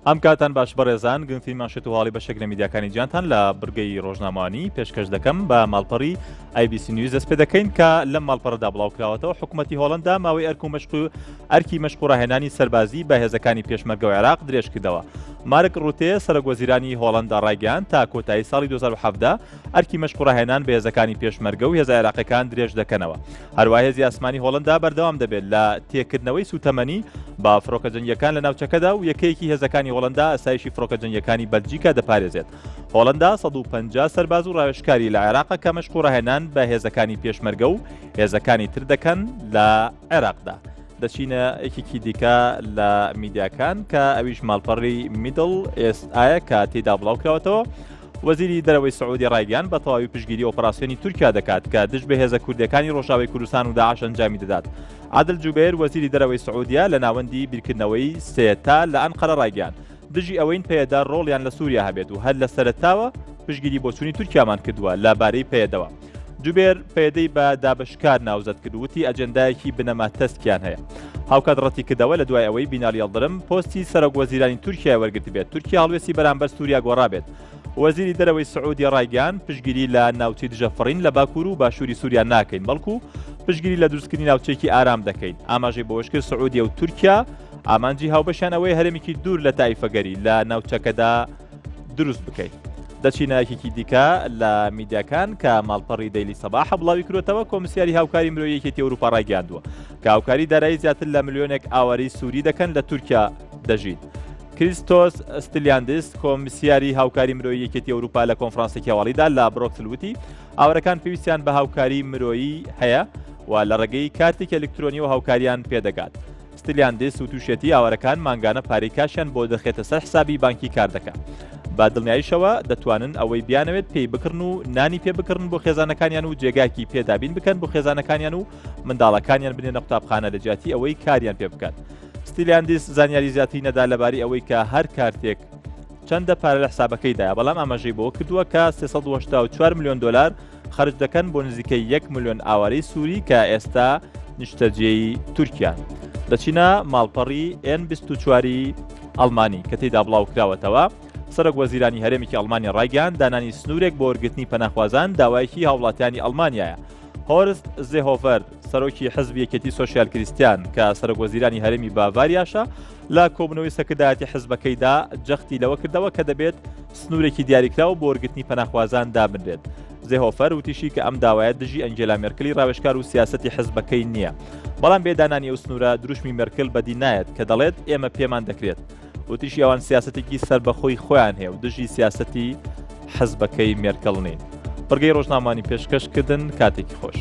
ئەم کاتان باش بەڕێزان گرنگی ماشێت و هاڵی بەشێک لە میدیاکانی جیانتان لە برگەی ڕۆژنامانی پێشکەش دەکەم بە ماڵپەڕی ئایبیسی نیوز دەست پێ دەکەین کە لەم ماڵپەڕدا بڵاوکراوەتەوە حکوومەتتی هۆڵندا ماوەی ئەرک و مشق و ئەرکی مشقڕاهێنانی سەربازی بە هێزەکانی پێشمەرگە و عێراق درێژکردەوە مارک ڕوتێ، سەرۆکوەزیرانی هۆڵەندا ڕایگەیاند، تا کۆتایی ساڵی دوو هەزار و حەڤدە ئەرکی مەشق و ڕاهێنان بە هێزەکانی پێشمەرگە و هێزە عێراقییەکان درێژدەکەنەوە. هەروەها هێزی ئاسمانی هۆڵەندا بەردەوام دەبێت لە تێکردنەوەی سووتەمەنی بە فڕۆکە جەنگییەکان لە ناوچەکەدا و یەکەیەکی هێزەکانی هۆڵەندا ئاسایشی فڕۆکە جەنگییەکانی بەلجیکا دەپارێزێت. هۆڵەندا سەد و پەنجا سەرباز و ڕاوێژکاری لە عێراقە کە مەشق و ڕاهێنان بە هێزەکانی پێشمەرگە و هێزەکانی تر دەکەن لە عێراقدا. دەچینە یەکێکی دیکە لە میدیاکان کە ئەویش ماڵپەڕی میدڵ ئێست ئایا کە تێدا بڵاو کراوەتەوە وەزیری دەرەوەی سعودی ڕایگەیان بە تەواوی پشگیری ئۆپەراسسیۆنی تورکیا دەکات کە دژ بە هێزە کوردەکانی ڕۆژاوی کوردستان و داعش ئەنجامی دەدات عادل جوبێر وەزیری دەرەوەی سعودیا لە ناوەندی بیرکردنەوەی سێتا لە ئەنقەرە ڕایگەیان دژی ئەوەین پێدا ڕۆڵیان لە سووریا هەبێت و هەر لە سەرتاوە پشگیری بۆچووی تورکیامان کردووە لە بارەی پێدەوە جوبێر پەیەدەی بە دابەشکار ناوزەد کرد وتی ئەجێندایەکی بنەما تەسکیان هەیە. هاوکات ڕەتی کردەوە لە دوای ئەوەی بینالی یەڵدرم پۆستی سەرۆک وەزیرانی تورکیای وەرگرتبێت، تورکیا هەڵوێستی بەرامبەر سووریا گۆڕابێت. وەزیری دەرەوەی سعودیە ڕایگەیاند پشتگیری لە ناوچەی دژە فڕین لە باکوور و باشووری سووریا ناکەین، بەڵکو پشتگیری لە دروستکردنی ناوچەیەکی ئارام دەکەین. ئاماژەی بەوەش کرد سعودیە و تورکیا ئامانجی هاوبەشیان ئەوەیە هەرێمێکی دوور لە تایفەگەری لە ناوچەکەدا دروست بکەیت دەچینە یەکێکی دیکە لە میدیاکان کە ماڵپەڕی دەلی سەباح بڵاوی کرێتەوە کۆمسیاری هاوکاری مرۆیەکێتی ئەوروپا ڕایگەاندووە کە هاوکاری دارایی زیاتر لە ملیۆنێک ئاواری سووری دەکەن لە تورکیا دەژیت. کریستۆس ستلیاندس کۆمسیاری هاوکاری مرۆی یەکێتی ئەوروپا لە کۆنفرانسێکی هەواڵیدا لە برۆکسلوتی ئاورەکان پێویستیان بە هاوکاری مرۆیی هەیە و لە ڕێگەی کاتێک ئەلکترۆنی و هاوکاریان پێدەگات. ستلیاندیس وتوشیەتی ئاوارەکان مانگانە پارەی کاشیان بۆ دەخێتە سەر حسابی بانکی کاردەکە بە دڵنیایشەوە دەتوانن ئەوەی بیانەوێت پێی بکڕن و نانی پێ بکڕن بۆ خێزانەکانیان و جێگاکی پێدابین بکەن بۆ خێزانەکانیان و منداڵەکانیان بنێنە قوتابخانە لە جیاتی ئەوەی کاریان پێ بکات ستیلیاندیس زانیاری زیاتری نەدا لەباری ئەوەی کە هەر کارتێک چەندە پارە لە حسابەکەیدایە بەڵام ئاماژەی بۆ کردووە کە 384 میلیۆن دلار خەرج دەکەن بۆ نزیکەی یەک ملیۆن ئاوارەی سووری کە ئێستا نیشتەجێی تورکیان. لە چینا ماڵپەڕی ئێن 24 ئەڵمانی کە تێدا بڵاو کراوەتەوە، سەرۆک وەزیرانی هەرێمێکی ئەڵمانیا ڕایگەیاند دانانی سنوورێک بۆ وەرگرتنی پەناخوازان داوایەکی هاوڵاتیانی ئەڵمانیایە. هۆرست زێهۆڤەر سەرۆکی حزبی یەکێتی سۆسیال کریستیان کە سەرۆک وەزیرانی هەرێمی باڤاریاشە لە کۆبنەوەی سەکردایەتی حزبەکەیدا جەختی لەوە کردەوە کە دەبێت سنوورێکی دیاریکراو بۆ وەرگرتنی پەناخوازان دابنرێت. زێهۆفەر وتیشی کە ئەم داوایە دژی ئەنجێلا مێرکلی راوێژکار و سیاسەتی حزبەکەی نییە. بەڵام بێ دانانی ئەو سنوورە دروشمی مێرکل بەدی نایەت کە دەڵێت ئێمە پێمان دەکرێت. وتیشی ئەوان سیاسەتێکی سەربەخۆی خۆیان هەیە و دژی سیاسەتی حزبەکەی مێرکل نین. بڕگەی رۆژنامانی پێشکەش کردن کاتێکی خۆش.